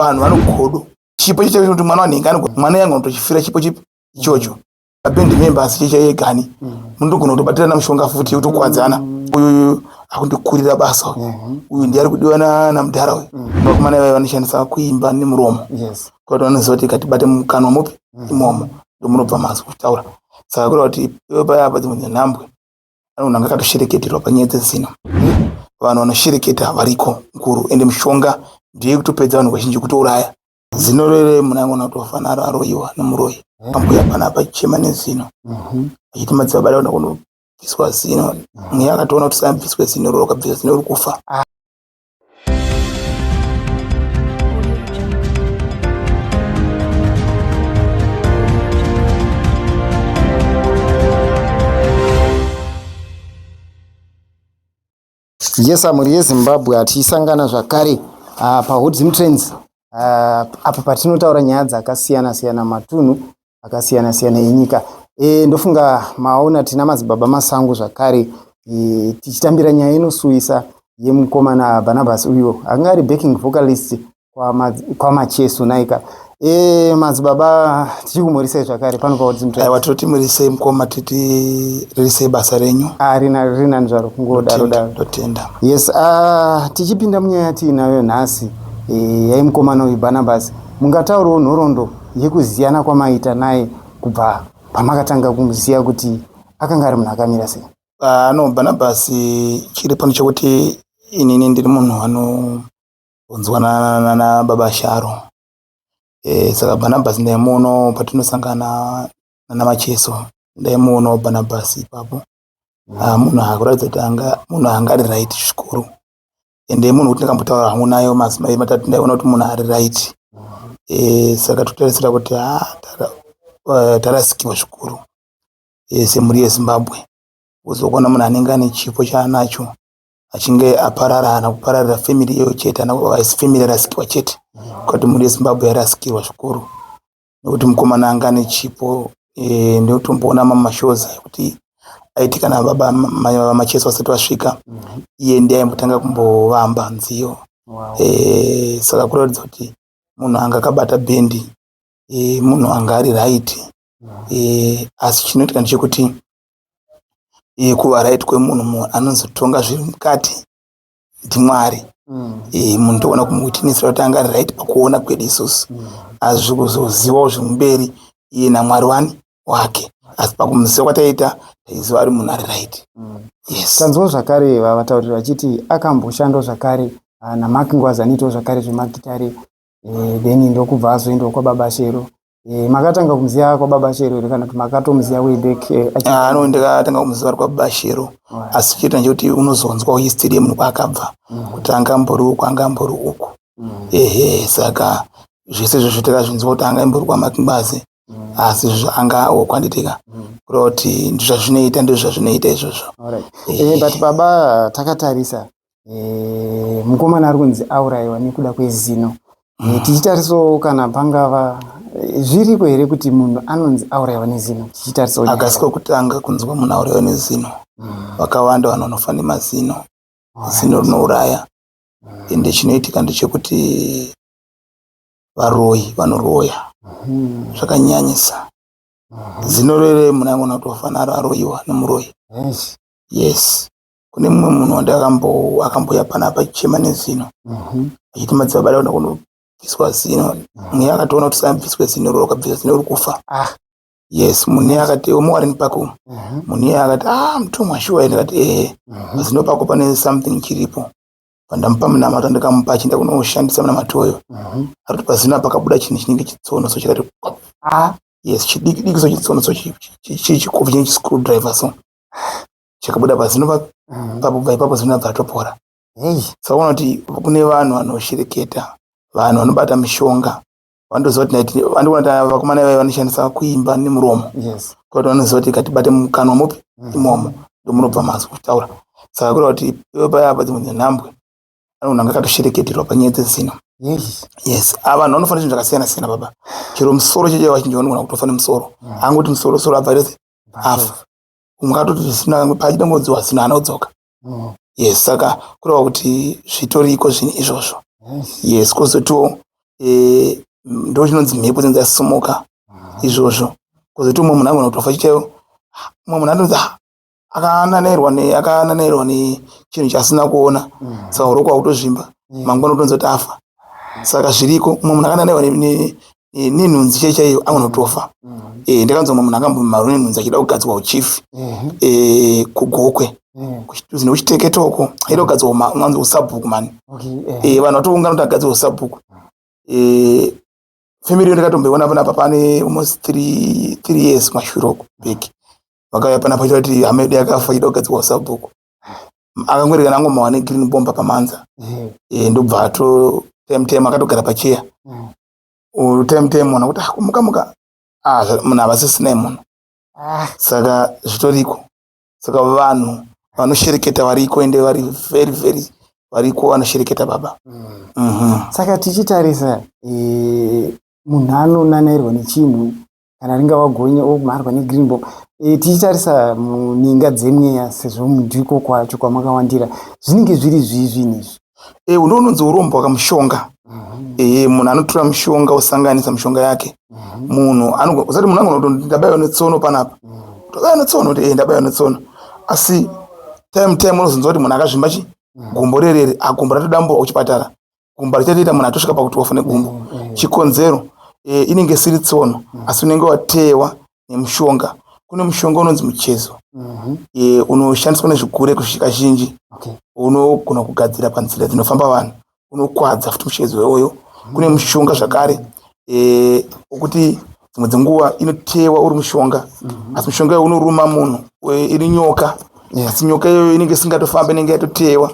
vanhu vanogodo chipo chete kuti mwana wanenge anogona mwana yanga anotochifira chipo chipi ichocho abendi memba asi checha yegani munotogona kutobatirana mushonga futi yotokwadzana mm. uyuyu akundikurira basa uyu mhm. uyu ndiye ari kudiwa namudhara uyu mm. vakomana ivai vanoshandisa kuimba nemuromo kuti vanoziva kuti katibate mukanwa mupi mm. imomo ndomunobva mazwi kutaura saka kura kuti iwe paya apa dzimwe dzenhambwe pane munhu anga akatoshereketerwa panyaya dzezino hmm? vanhu vanoshereketa variko mukuru ende mushonga ndiye kutopedza vanhu vazhinji kutouraya zino rere munhu angona kutofa naro aroyiwa nemuroyi hmm. ambuya pana pachema nezino hmm. achiti madzibaba daona kunobviswa zino mweya akatoona kuti saabviswe zino roro kabvisa zino rikufa ah. yes mhuri yezimbabwe hatisangana zvakare uh, pahot zim trends uh, apo patinotaura nyaya dzakasiyana siyana matunhu akasiyana siyana enyika e, ndofunga maona tina madzibaba masango zvakare e, tichitambira nyaya inosuwisa yemukomana barnabas uyo anga ari backing vocalist kwamachesu kwa naika e, madzibaba tichikumurisei zvakare panopaoaiwa toti murisei mukoma titi ririsei basa renyu ah, rina rinani zvaro kungodaro daro totenda yes uh, tichipinda munyaya tiinayo nhasi e, yaimukomana uyu barnabas mungataurawo nhoroondo yekuziyana kwamaita naye kubva pamakatanga kumuziva kuti akanga ari munhu akamira sei ah, no bhanabhasi chiri pano chekuti inini ndiri munhu anonzwanana nababa sharo e, saka bhanabhasi ndaimuonawo patinosangana nana macheso ndaimuonawo bhanabhasi ipapo ah, munhu akuratidza kuti munhu anga ari right zvikuru ende munhu kuti ndakambotaura hangu nayo madzimai matatu ndaiona kuti munhu ari right eh, saka totarisira kuti ah, eh, tarasikiwa zvikuru eh, semhuri yezimbabwe uzokuona munhu anenge ane chipo chaanacho achinge aparara hana kupararira family iyoyo chete hana family yarasikiwa chete kuti mhuri yezimbabwe yarasikirwa zvikuru nekuti mukomana anga ane chipo e, ndotomboona mamashows kuti aitika na baba vamacheso vasati vasvika mhm. iye ndiye aimbotanga kumbovamba nziyo wow. e, saka kuratidza kuti munhu anga akabata bhendi e, munhu anga ari right mhm. e, asi chinoitika ndechekuti e, kuva right kwemunhu munhu anozotonga zviri mukati ndimwari mm. e, munhu toona kumuwitnessira kuti anga ari right pakuona kwedu isusu mm. asi zvikuzozivawo zvimumberi iye namwari wani wake asi pakumuziva kwataiita taiziva ari munhu ari right mm. yes. tanzwa zvakare vavatauriri vachiti akamboshandwa zvakare ah, namak ngwazi anoitawo zvakare zvemagitare eh, then ndokubva azoendawo kwababa shero Eh, makatanga kumuziva kwababa shero here kana kuti makatomuziva way back eh, achi- Ah, no ndakatanga kumuziva ari kwababa shero asi chete ndechekuti unozonzwawo history yemunhu kwaakabva kuti anga ambori uku anga ambori uku ehe saka zvese izvozvo takazvinzwa kuti anga ambori kwamakingwazi asi izvozvo anga okwanditika kureva kuti ndizvazvinoita ndizvazvinoita izvozvo Alright. Eh, but baba takatarisa e, mukomana ari kunzi aurayiwa nekuda kwezino e, tichitarisawo kana pangava e, zviriko here kuti munhu anonzi aurayiwa nezino tichitarisawo akasi kwekutanga kunzwa munhu aurayiwa nezino mm. vakawanda vanhu vanofa nemazino zino rinouraya mm. ende chinoitika ndechekuti varoyi vanoroya mm. zvakanyanyisa zino rere munhu angoona kuti wafanira aroyiwa nemuroyi yes kune mumwe munhu wandakambo akambouya pana apa achichema nezino mhm. achiti madzibaba daona kunobviswa zino mhm. mweya akatoona kuti sambviswe zino roro ukabvisa zino uri kufa ah. yes munhu iye akati omuwarini pako mhm. munhu iye akati a ah, mutumwa shuwa ende kati ehe pazino pako pane something chiripo pandamupa munamato ndikamupa achienda kunoshandisa munamato oyo arikuti pazino apakabuda chinhu chinenge chitsono so chikati ah. yes chidikidiki so chitsono so chikovi chine chiscrew driver so chikabuda pazino pabva ipapo zino abva atopora saka unoti kune vanhu vanoshereketa vanhu vanobata mishonga vanotoziva kuti naiti vandiona ta vakomana ivai vanoshandisa kuimba nemuromo koti vanoziva kuti katibate mukanwa mupi mm. imomo ndomunobva mazi kutaura saka kureva kuti iwe payapa dzimwe dzenhambwe anogona anga akatoshereketerwa panyaya dzezino yes ah, vanhu vanofanira zvinhu zvakasiyana siyana baba chero musoro cheche vachinji vanogona kutofana musoro mm. angoti musoro soro abva rese afa umwe atoti zvisina vamwe paachida ngozi wasina anodzoka mm. yes saka kureva kuti zvitoriko zvinhu izvozvo yes kozotiwo e, ndo chinonzi mhepo dzinonzi yasumuka mm. izvozvo kozotiwo mumwe munhu agona kutofa chitaiwo mumwe munhu anonzi ah, akananairwa ne akananairwa ne chinhu chasina kuona mm. saka urokwakutozvimba mangwana utonzi kuti afa saka zviriko mumwe munhu akananairwa eh, nenhunzi chai chaiyo anotofa eh, ndakanzwa munhu akambomarwa nenhunzi achida kugadzirwa uchief eh, kugokwe kuchituzi nekuchiteketa uko aida kugadzirwa mwanzi usabhuku mani eh, vanhu vatoungana kuti agadzirwa usabhuku eh, family yo ndakatomboiona panapa pane almost three, three years kumashure uko beki vakauya panapa chita kuti hama yedu yakafa achida kugadzirwa usabhuku akangwerekana angomawane green bomba pamanza mm. e, ndobva ato temtem akatogara pacheya mm. utemutei munhu kuti ah, kumuka muka ah, munhu havasisinei munhu ah. saka zvitoriko saka vanhu vanoshereketa variko ende vari very very variko vanoshereketa baba mm. mm -hmm. saka tichitarisa e, munhu anonanairwa nechinhu kana ringava gonye omharwa negreen ball e, eh, tichitarisa muninga dzemweya sezvo mudhiko kwacho kwamakawandira zvinenge zviri zvii zvinhu izvi e, eh, unounonzi urombwa kamushonga mhm. e, eh, munhu anotora mushonga osanganisa mushonga yake mhm. munhu usati munhu angona kuti ndabaiwa netsono panapa mhm. ndabaiwa netsono kuti e, ndabaiwa netsono asi time time unozonzwa kuti munhu akazvimba chi gumbo rerere agumbo ah, ratodamburwa kuchipatara gumba richatoita munhu atosvika pakuti wafa negumbo mm, mm, mm. chikonzero e, inenge isiri tsono asi unenge wateyewa nemushonga kune mushonga unonzi muchezo mm-hmm. e, unoshandiswa nezvigure kusvika zhinji unogona kugadzira panzira dzinofamba vanhu unokwadza futi muchezo iwoyo kune mushonga zvakare e, okuti dzimwe dzenguva inoteyewa uri mushonga mm-hmm. asi mushonga iwo unoruma munhu iri nyoka asi nyoka iyoyo inenge isingatofambi inenge yatoteyewa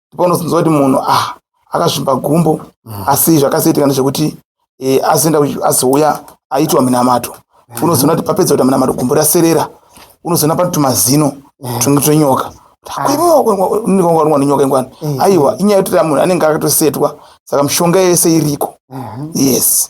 ndipo unozonzwa kuti munhu ah akazvimba gumbo mm. asi zvakasiitika ndezvekuti eh, azoenda azouya aitwa minamato mm. unozoona kuti papedza kuita minamato gumbo raserera unozoona pati tumazino mm. tunenge tonyoka ndikaonwa nenyoka ingwani aiwa inyaya yekuti munhu anenge akatosetwa saka mishonga yese iriko mm-hmm. yes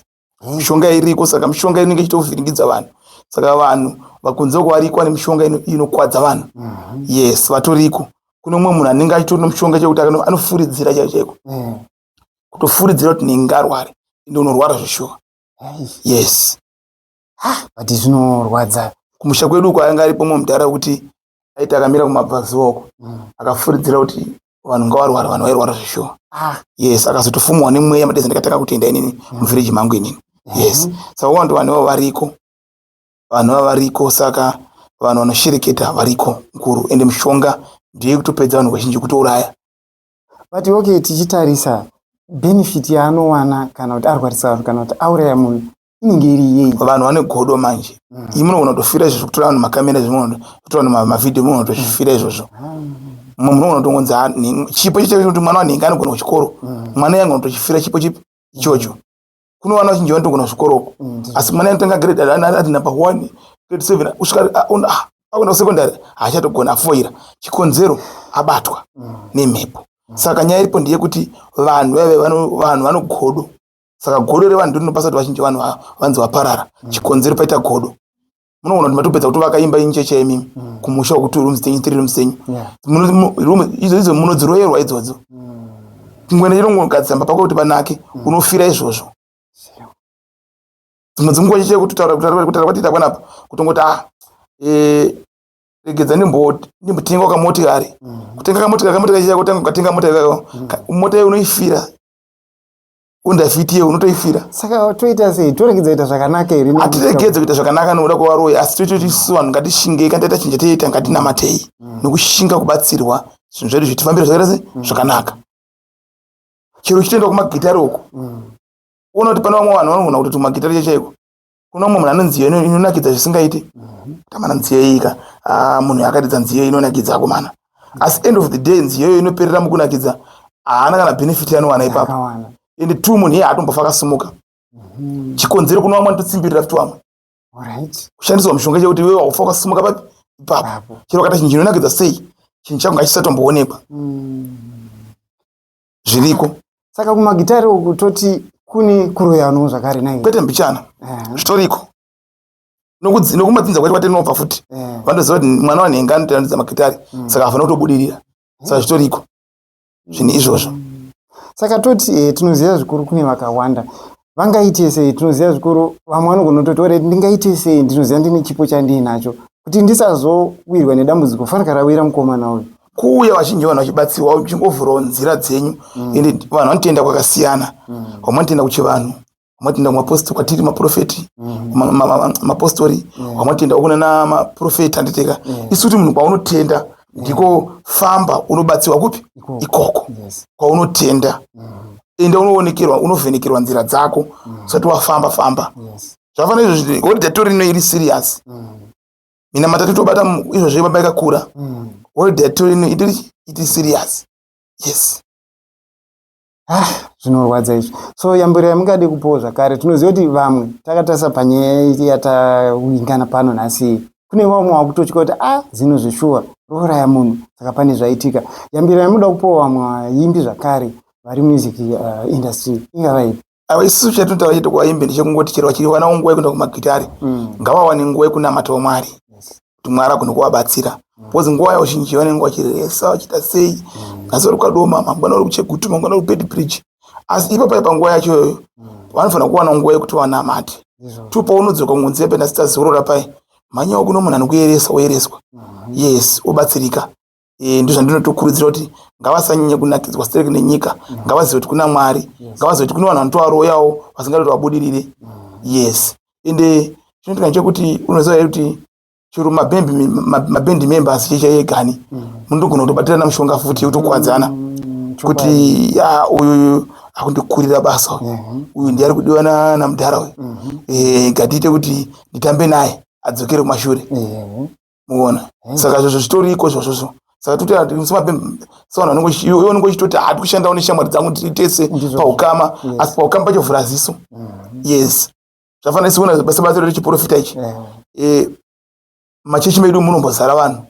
mishonga iriko saka mishonga inenge ichitovhiringidza vanhu saka vanhu vakunze kuvarikwa nemishonga inokwadza vanhu mhm. yes vatoriko kune umwe munhu anenge achitori nomushonga chekuti anofuridzira chai chaiko mhm. kutofuridzira kuti nenge arware ende unorwara zveshuwa yes but zvinorwadza kumusha kwedu uko anga aripo mwe mudhara wekuti aiti akamira kumabvazuva uko mm. akafuridzira kuti vanhu ngavarwara vanhu vairwara zveshuwa ah. yes akazotofumwa nemweya madezi ndikatanga kutenda inini mm. muvhiriji mangu inini mm-hmm. yes saka wando vanhu vavo variko vanhu vavo variko saka vanhu vanoshereketa variko mukuru ende mushonga ndiye kutopedza vanhu vazhinji kutouraya but okay tichitarisa benefit yaanowana kana kuti arwarisa vanhu kana kuti auraya munhu inenge iri yei vanhu vane godo manje mm. iyi munogona kutofira izvozvo kutora vanhu makamera zvimwe kutora vanhu mavhidhiyo munogona kutozvifira izvozvo mumwe munogona kutongonzi chipo chitee kuti mwana wanhingi anogona kuchikoro mm. mwana iye angona kutochifira chipo chipi ichocho kuno vana vachinji vanotogona kuchikoro uko mm, asi mwana anotanga grade ati napa one grade seven kusvika ah, ah, akuenda kusekondary haachatogona afoira chikonzero abatwa nemhepo saka nyaya iripo ndeyekuti vanhu vaive vanhu vanogodo saka godo revanhu ndinopasa kuti vazhinji vanhu vanzi vaparara mm. chikonzero paita godo munoona kuti matopedza kutovaka imba incheche yemimi mm. kumusha wekuti rooms tenyu tiri rooms tenyu idzo idzo munodziroyerwa idzodzo mm. kungoenda chinongogadzisa mba pako kuti panake unofira izvozvo dzimwe dzinguva cheche kutitaura kutaura kwatiita kwanapa kutongoti a ah, eh, regedza ndimbotenga kamotikari kutenga kamotikari kamotikari chako tanga ukatenga motikari mota unoifira undafiti iye unotoifira saka toita sei toregedza kuita zvakanaka here hatiregedze kuita zvakanaka nokuda kwevaroyi asi toitoti isu vanhu ngatishingei kana taita chinja toita ngatinamatei mm. nokushinga kubatsirwa zvinhu zvedu zvitifambira zvakaita sei mm. zvakanaka chero uchitoenda kumagitari uko mm. uona kuti pane vamwe vanhu vanogona kutoti magitari chachaiko kuno umwe munhu ane nziyo inonakidza zvisingaiti mhm. kamana nziyo iyika ah, munhu akatidza nziyo inonakidza akomana asi end of the day nziyo iyo inoperera mukunakidza haana kana benefit yanowana ipapo and two munhu iye haatombofa akasimuka mhm. chikonzero kuno vamwe anototsimbirira futi vamwe kushandiswa mushonga chekuti iwe wakufa wakasimuka papi ipapo chero kata chinhu chinonakidza sei chinhu changu ngachisatomboonekwa mm. zviriko saka kumagitare uku toti kune kuroyano zvakare nai kwete mbichana eh. zvitoriko nokumadzinza kwacho kwatinobva futi eh. vanoziva kuti mwana wanhenga anotoyandidza magitare mm. saka hafana kutobudirira eh. saka zvitoriko zvinhu izvozvo saka toti tinoziva zvikuru kune vakawanda vangaite sei tinoziva zvikuru vamwe vanogona kutoti red ndingaite sei ndinoziva ndine chipo chandiinacho kuti ndisazowirwa nedambudziko fanira rawira mukomana uyu kuuya vazhinji vanhu vachibatsirwa uchingovhurawo nzira dzenyu mm. ende mm. vanhu vanotenda kwakasiyana mm. vamwe vanotenda kuchivanhu vamwatenda kumapostori kwatiri maprofeti mm. mapostori mm. vamwatenda kunana maprofeti anditeka mm. isu kuti munhu kwaunotenda ndiko famba unobatsirwa kupi ikoko kwaunotenda mm-hmm. enda unoonekerwa unovhenekerwa nzira dzako mm-hmm. usati wafamba famba zvafana izvozvi holiday tori ino iri serious mm-hmm. mina matatu tobata izvozvi baba ikakura holiday tori ino iri serious yes ah zvinorwadza izvi so yambiro yamungade kupowo zvakare tinoziva kuti vamwe takatarisa panyaya yatawingana pano nhasi kune vamwe wakutotya kuti a ah, zino zveshuwa rouraya munhu saka pane zvaitika yambiro yamuda kupowa vamwe vaimbi zvakare vari music uh, industry ingava ipi isu chatotaura chete kuvaimbi ndechekungoti chero vachiri vana unguva yekuenda kumagitari mm. ngavawane nguva yekunamatawo mwari kuti mwari agone kuvabatsira bcause nguva yavo zhinji vanenge vachiresa vachiita sei nhasi vari kukadoma mangwana vari kuchegutu mangwana vari kupedi bridge asi ipa pai panguva yacho iyoyo vanofanira kuwana nguva yekuti vanamate to paunodzoka kungonzi yape nhasi tazorora pai manyawo kuno munhu anokuyeresa woyereswa yes wobatsirika eh, ndozvandinotokurudzira kuti ngavasanyanye kunakidzwa sterek nenyika mm. ngavazive kuti kuna mwari ngavazive kuti kune vanhu vanotovaroyawo vasingatoti vabudirire mm. yes ende chinotika chekuti unoziva here kuti chero mabendi members chechaegani mm. munotogona kutobatirana mushonga futi utokuwadzana kuti ya uyu akundikurira basa uyu mhm. uyu ndiari kudiwa namudhara uyu mhm. eh, ngatiite kuti nditambe naye adzokere kumashure mhm. muona hmm. saka zvozvo zvitoriko zvozvozvo saka toti ati semabhembe sevanhu vanenge iwe unenge uchitoti hati kushandawo neshamwari dzangu tiri tese paukama asi paukama pacho vhura ziso hmm. yes zvafanira siona basa basa rechiprofita ichi hmm. eh, machechi medu munombozara vanhu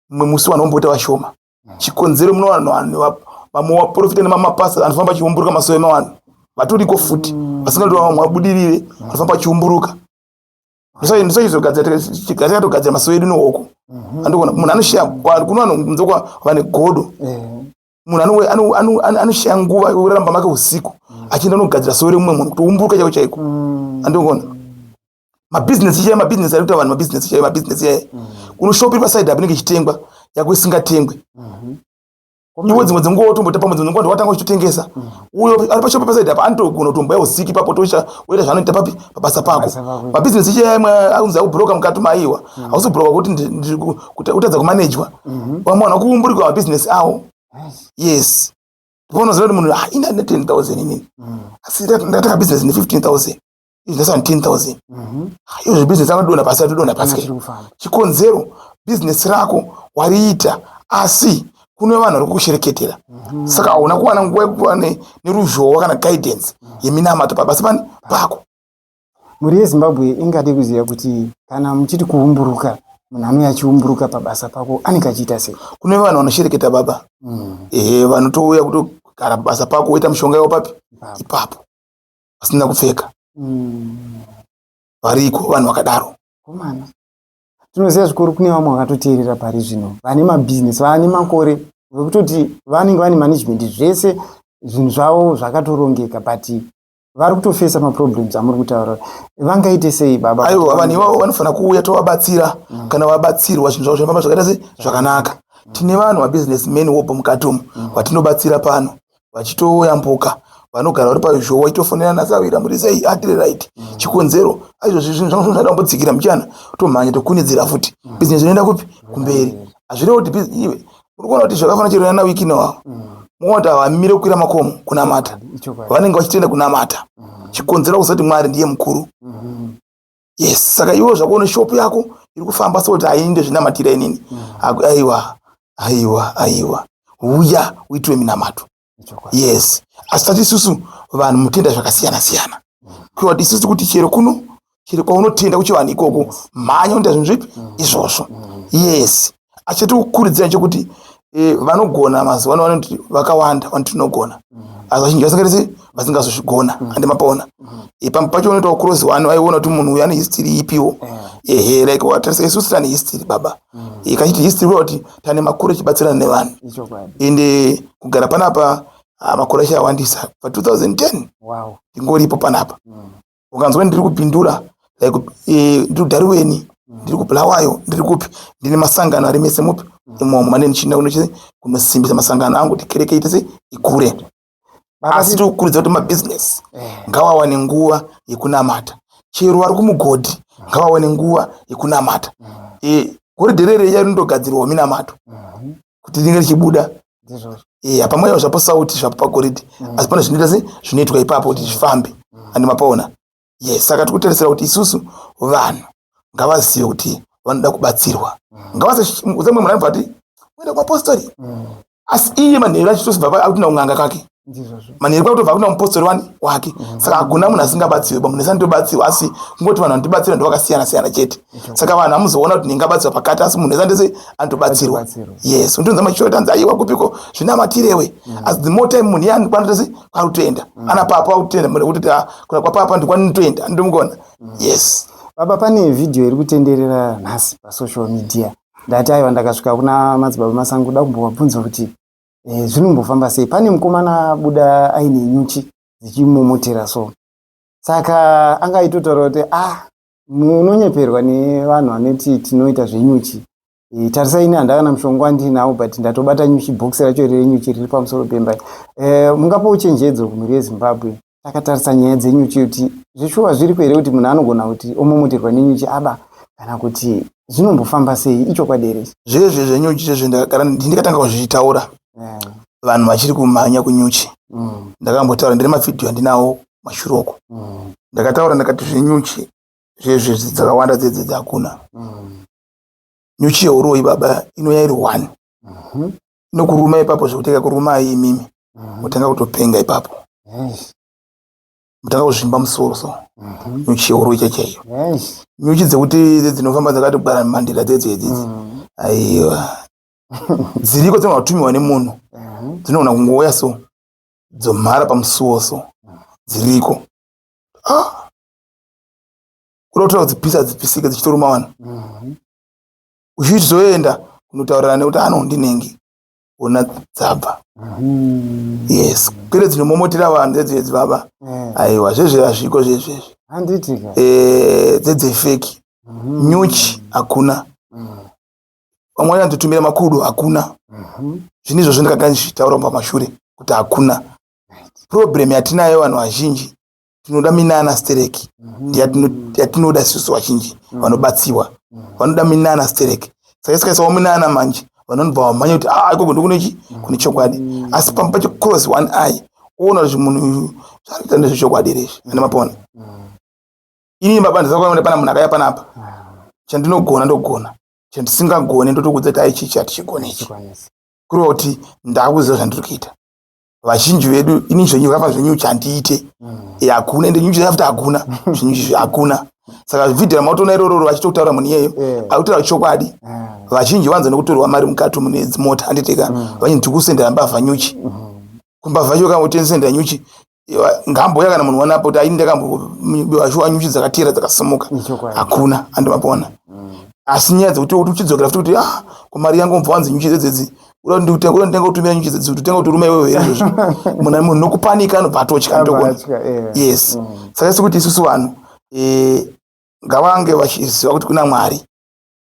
mumwe musi vanhu vomboita vashoma chikonzero muno vanhu vanhu vamwe vaprofita nemamapasa anofamba achiumburuka masowe mavanhu vatoriko futi vasingati vamwe vabudirire anofamba achiumburuka ndisaizogadzira tigadzira togadzira masowe edu nowoko mhm. andikuona munhu anoshiya kuno anokunze kwa vane godo eh. munhu anoshiya nguva yoramba make usiku mm. achienda anogadzira sowe remumwe munhu kutoumburuka chaiko chaiko mm. andikuona mabhizinesi ichaye mabhizinesi arikuita vanhu mabhizinesi ichaye mabhizinesi ichaye mm. unoshopiri pasaidi apinenge ichitengwa yako isingatengwe mhm. iwe dzimwe dzenguva wotomboita pamwe dzimwe dzenguva watanga uchitotengesa mm. uyo ari pashopo pasaidi apa anotogona kutomboya usiki papo tocha woita zvaanoita papi pabasa pako mabhizinesi ichi yamwe akunzi akuburoka mukati maiwa mm. hausi kuburoka kuti kutadza kumanejwa mm-hmm. vamwe vanhu vakuumburikwa mabhizinesi awo yes paunoziva kuti munhu ah, ina ne ten thousand inini mm. asi ndatanga bhizinesi ne fifteen thousand is less than 10000 mhm. iyo zvebusiness anodona pasi atodona pasi chikonzero business rako wariita asi kune vanhu vari kukushereketera mhm. saka hauna kuwana nguva yekuva neruzhowa kana guidance mhm. yeminamato pabasa pani pako mhuri yezimbabwe ingade kuziva kuti kana muchiti kuumburuka munhu anouya achiumburuka pabasa pako anenge achiita sei kune vanhu vanoshereketa baba mm. ehe vanotouya kutogara pabasa pako woita mushonga yavo papi ipapo vasina kupfeka mm. variko vanhu vakadaro komana tinoziva zvikuru kune vamwe vakatoteerera pari zvino vane mabhizinesi vaane makore vekutoti vanenge vane management zvese zvinhu zvavo zvakatorongeka but vari kutofesa maproblems amuri kutaura vangaite sei baba aiwa vanhu ivavo vanofanira kuuya tovabatsira mm. kana vabatsirwa zvinhu zvavo zvinofamba zvakaita se zvakanaka mm. tine vanhu vabusiness man wopo mukati umu mm. vatinobatsira pano vachitouya mpoka vanogara vari paizvo waitofonera nasavira muri sei atiri right mm. chikonzero aizvozvi zvinhu zvangu zvinoda kumbodzikira muchana tomhanya tokunidzira futi mm. business inoenda kupi kumberi hazvirevo kuti iwe uri kuona kuti zvakafanira chirona na wiki nowawo muona kuti havamire kukwira makomo kunamata vanenge vachitenda kunamata chikonzero kusati mwari ndiye mukuru mm-hmm. yes saka iwe zvakuona shop yako iri kufamba so kuti ainde zvinamatira inini mm. aiwa aiwa aiwa uya uitwe minamato yes asi tati isusu vanhu mutenda zvakasiyana siyana mm. kuati isusu kuti chero kuno chero kwaunotenda kuchivanhu ikoko mhanya unoita zvinhu zvipi mm. izvozvo yes achitikurudzira chekuti eh, vanogona mazuva ano vanoti vakawanda vanoti tinogona mm-hmm. asi vazhinji vasingaitisi vasingazozvigona mm-hmm. ande mapaona mm-hmm. eh, pamwe pacho unoitawo kurozi wani vaiona kuti munhu uyu ane history ipiwo ehe like watarisa isusu tane history baba eh, kachiti history kuva kuti tane makuru echibatsirana nevanhu ende kugara panapa ah, makuru achawandisa pa 2010 ndingoripo panapa ukanzwa ndiri kupindura like eh, ndiri kudhariweni ndiri kubulawayo ndiri kupi ndine masangano ari mese mupi imomo mane ndichienda kunochii kunosimbisa masangano angu kuti kereke itese ikure asi tiri kukuridza kuti mabhizinesi eh. ngawawane nguva yekunamata chero vari kumugodhi ngawawane nguva yekunamata mm. eh, goridhe rere iya rinotogadzirwawo minamato mm. kuti ringe richibuda yeah, pamwe zvapo sauti zvapo pagoridhe mm. asi pane zvinoita se zvinoitwa ipapo kuti zvifambe mm. andi mapaona yes saka tikutarisira kuti isusu vanhu ngavazive kuti vanoda kubatsirwa mm. ngavasamwe munhu anobva ati uenda kuapostori mm. asi iye manheru achitosibva akuti naunganga kake manheru kutobva kuna mupostori wani wake mm-hmm. saka hakuna munhu asingabatsirwe ba munhu ese anitobatsirwa asi kungoti vanhu vanotibatsira ndovakasiyana siyana chete saka vanhu amuzoona kuti ndingabatsirwa pakati asi munhu ese andese anotobatsirwa yes unotonza machiro tanzi aiwa kupiko zvinamatirewe mm-hmm. as the more time munhu yani kwanotese kwarutoenda mm-hmm. ana papa wakutoenda munhu kuti ah, kuna kwapapa ndikwanitoenda andomugona yes baba pane vhidhiyo iri kutenderera nhasi pasocial media ndati aiwa ndakasvika kuna madzibaba masango da kumbovabvunza kuti e, zvinombofamba sei pane mukomana abuda aine nyuchi dzichimomotera so saka anga aitotaura kuti ah munonyeperwa nevanhu vanoti tinoita zvenyuchi e, tarisa ini handakana mushonga wandinawo but ndatobata nyuchi bhokisi racho renyuchi riri pamusoro pemba e, mungapo uchenjedzo kumhuri yezimbabwe takatarisa nyaya dzenyuchi kuti zveshuwa zviriko here kuti munhu anogona kuti omomoterwa nenyuchi aba kana kuti zvinombofamba sei ichokwadi here zvezve zvenyuchi zvezve ndikatanga kuzvitaura eh. vanhu vachiri kumhanya kunyuchi mm. ndakambotaura ndine mavhidhiyo andinawo mashure uko mm. ndakataura ndakati zvenyuchi zvezve dzakawanda dzedze dzakuna mm. nyuchi yeuroyi baba inouya iri one mhm. nokuruma ipapo zvekuteka kurumai imimi mhm. motanga kutopenga ipapo motanga kuzvimba musoro so mhm. nyuchi yehoro icha chaiyo nyuchi dzekuti idzi dzinofamba dzakatogwara mandira dzedzo idzidzi mhm. aiwa dziriko dzinogatumiwa nemunhu dzinogona kungouya so dzomhara pamusuwo so dziriko ah! kuda kutora kudzipisa dzipisike dzichitoruma vanhu uchizoenda kunotaurirana nekuti ano ndinenge ona dzabva mm-hmm. yes pere dzinomomotera vanhu dzedzedzi baba eh. aiwa zvezve azviko zvezvezvi eh, dzedzefeki mm-hmm. nyuchi hakuna mm. vamwe vanyandotumira makudo hakuna mm-hmm. zvine izvozvo ndikakanzvitaura pamashure kuti hakuna problem yatinayo vanhu vazhinji tinoda minana stereki mhm. yatinoda isusu vazhinji mhm. vanobatsiwa mhm. vanoda minana stereki sakaisikaisa waminana manje vanonobva vamhanya kuti a ah, ikoko ndikunechi kune chokwadi asi pamba pacho cross one eye oona kuti munhu uyu zvaanoita ndezvechokwadi here izvi ane mapona inini baba ndisakuona pana munhu akaya panapa chandinogona ndogona chandisingagone ndotokudza kuti aichichi hatichigone ichi kureva kuti ndakuziva zvandiri kuita vazhinji vedu ini zvenyu vava zvenyu chandiite mm. e, hakuna ende nyuchi after hakuna zvenyu izvi hakuna saka vhidhi ramautona irororo vachitokutaura munhu iyeyo eh. akutaura chokwadi eh. vazhinji vanza nekutorwa mari mukati mune dzimota handiteka mm. vanyi ndiri kusendera mbavha nyuchi mm. kumbavha iyo kama utenisendera nyuchi ngambo yakana munhu wanapo kuti aini ndakambobiwa shuwa nyuchi dzakatera dzakasimuka hakuna andimapona mm. asi nyaya dzekuti uchidzokera futi kuti ah kumari yangu mubva wanzi nyuchi dzedzedzi uda kuti ndikute uda nditenga kutumira nyuchi dzedzi nditenga kuti rume wewe izvo izvo munhu munhu nokupanika anobva atotya ndokona yes mm. saka isi kuti isusu vanhu eh ngavange vachiziva kuti kuna mwari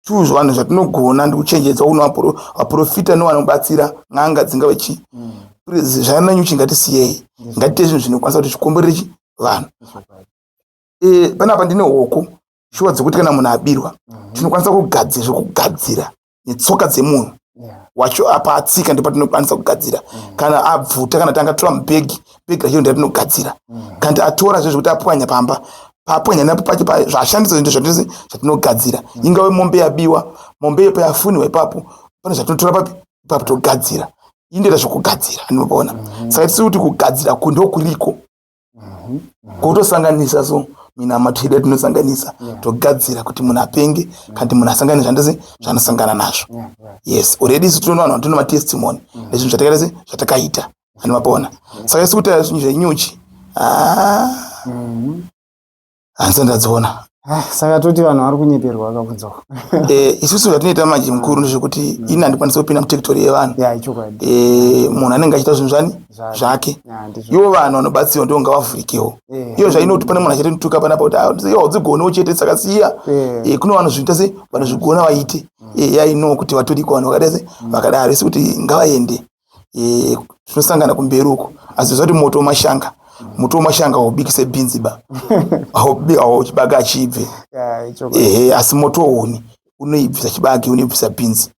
two zvanhu zvatinogona ndikuchenjedzwa kuna vaprofita nevanobatsira n'anga dzingave chii mm. zvaina nyuchi ngatisiyei ngatiite zvinhu zvinokwanisa kuti zvikomborere chi vanhu eh panapa ndine hoko shuwa dzekuti kana munhu abirwa mhm. tinokwanisa kugadzira zvekugadzira netsoka dzemunhu wacho apa atsika ndipo tinokwanisa kugadzira mhm. kana abvuta kana tanga tora mubhegi bhegi rachiro nda tinogadzira mhm. kana tiatora zve zvekuti apwanya pamba paapwanya napo pacho pa zvaashandisa zvinto zvatose zvatinogadzira ingave mombe yabiwa mombe yepo yafuniwa ipapo pane zvatinotora papi ipapo togadzira indoita zvekugadzira anobona saka tisi kuti kugadzira ku ndokuriko mhm, mhm. kutosanganisa so minamato yedu yatinosanganisa togadzira kuti munhu apenge kanti munhu asangane zvandese zvanosangana nazvo yes already isu tinoona vanhu vatino matestimony mm. nezvinhu zvatakaita se zvatakaita andimapaona saka isu kutaura zvinhu zvenyuchi ah. mhm. hanzi ndadziona Ah, saka toti vanhu vari kunyeperwa vakabvunzawo Eh, isusu zvatinoita manje mukuru ndezvekuti ini handikwanisi kupinda mutektori yevanhu ya ichokwadi Eh, munhu anenge achiita zvinhu zvani Zvake. zvake Ya, ndizvo ivo vanhu vanobatsirwa ndivo ngavavhurikewo Eh. iyo zvainoti pane munhu achatituka panapa kuti "Ah, iyo haudzigonewo chete saka siya Eh. Eh, kune vanhu zviita se vanozvigona vaite Eh, yainowo kuti vatoriko vanhu vakadai se vakadaro isi kuti ngavaende eh, tinosangana kumberi uko asi zvati moto wemashanga moto wemashanga haubikise bhinzi ba hauchibage achibve ehe asi moto wouni unoibvisa chibage unoibvisa bhinzi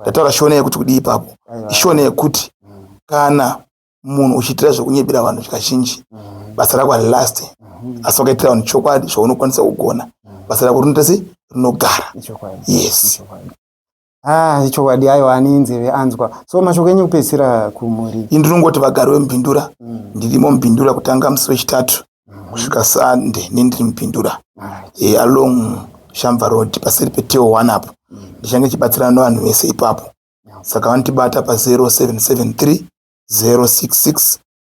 ndataura shona yekuti kudii ipapo ishona yekuti mm. kana munhu uchiitira zvekunyebera vanhu zvakazhinji mm. basa rako harilast mm. asi wakaitira vanhu chokwadi zvaunokwanisa kugona basa rako rinoita se rinogara yes Ah, chokwadi ayo ane nzeve anzwa so mashoko enyu kupedzisira kumhuri ini ndinongoti vagari vemubhindura mm. ndirimo mubhindura kutanga musi wechitatu mm. kusvika sande ne ndiri mubhindura right. e, along shamva road paseri peteo one apo mm. ndichange chibatsirana nevanhu vese ipapo yeah. saka vanotibata pa 0773 066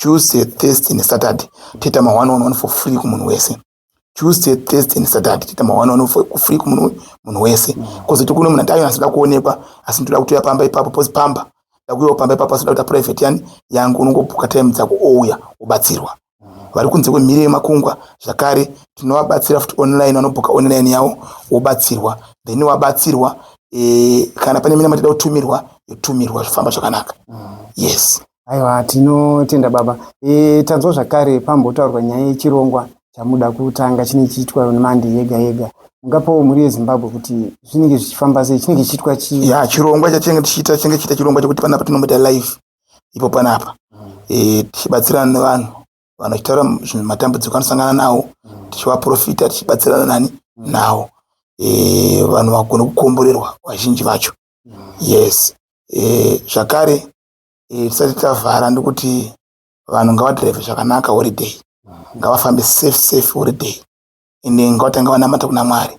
Tuesday, Thursday neSaturday toita ma one on one for free kumunhu wese. Tuesday, Thursday neSaturday toita ma one on one for free kumunhu munhu wese. Kozoti kune munhu andayo asida kuonekwa asi ndoda kutoya pamba ipapo pozi pamba. Ndakuyawo pamba ipapo asi ndakuita private yani yangu unongobuka time dzako ouya ubatsirwa. Vari kunze kwemhiri yemakungwa zvakare tinovabatsira futi online vanobuka online yavo wobatsirwa then wabatsirwa eh, kana pane mina matida kutumirwa yotumirwa zvifamba zvakanaka. Mm. Yes. Aiwa, tinotenda baba. E, tanzwa zvakare pambotaurwa nyaya yechirongwa chamuda kutanga chinenge chiitwa nemandi yega yega. Mungapawo mhuri yeZimbabwe kuti zvinenge zvichifamba sei, chinenge chiitwa chii? Ya, chirongwa chachinenge tichiita chinenge chiita chirongwa chekuti panapa tinomboita live ipo panapa. Mm. E, tichibatsirana nevanhu vanhu vachitaura matambudziko anosangana nawo mm. tichivaprofita tichibatsirana nani mm. nawo e, vanhu vagone kukomborerwa vazhinji vacho mm. yes e, zvakare eh, tisati tavhara ndikuti vanhu ngavadrive zvakanaka holiday ngavafambe safe safe holiday ende ngavatanga vanamata kuna mwari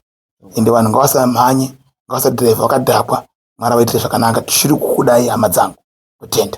ende vanhu ngavasamhanye ngavasadrive vakadhakwa mwari vaitire zvakanaka tichiri kukudai hama dzangu kutenda